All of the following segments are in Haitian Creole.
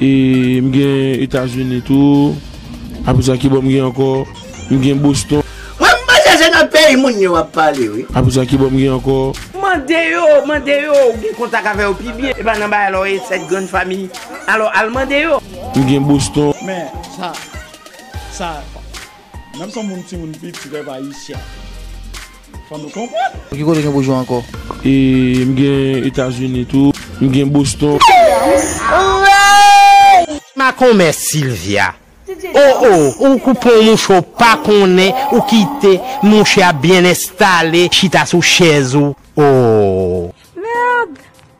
E m gen Etazini tou. Apre sa ki bò m gen ankò? M gen Boston. Wè m panse se nan peyi moun yo w ap pale wi. Apre sa ki bò m gen ankò? Mande yo, mande yo, ou gen kontak avè yo pi byen. E pa nan bagay la w ye, sèt grann famiy. Alò al mande yo. M gen Boston. Men sa, sa. Menm son moun timoun piti pèp ayisyen fò nou konprann. Ki kote gen boujoua ankò? E m gen etazini tou. M gen boston. Ma komè Sylvia oh oh ou kou pon mouche ou pa konnen ou kite mouche a byen enstale chita sou chèz ou oh.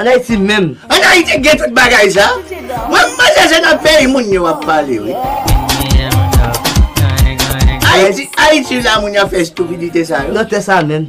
An Ayiti menm? An Ayiti gen tout bagay sa? Mwen m panse se nan peyi moun yo ap pale wi. Ayiti, Ayiti la moun yo ap fè estupidite sa yo. Nan tè sa menm?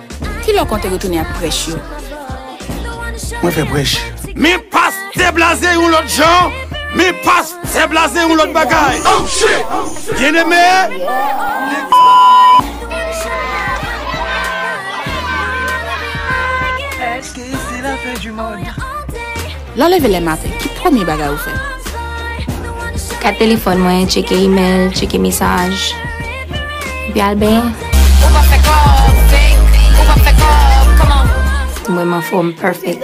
Ki lè w konte retounen ak prèch yo? Mwen fè prèch. Men pastè blaze yon lòt jan, men pastè blaze yon lòt bagay. Oh shit! Byeneme, li di. Lè w leve le maten, ki premye bagay ou fè? Gad telefòn mwen, tcheke imèl, tcheke mesaj, epi al benyen. M wèm anfòm perfect.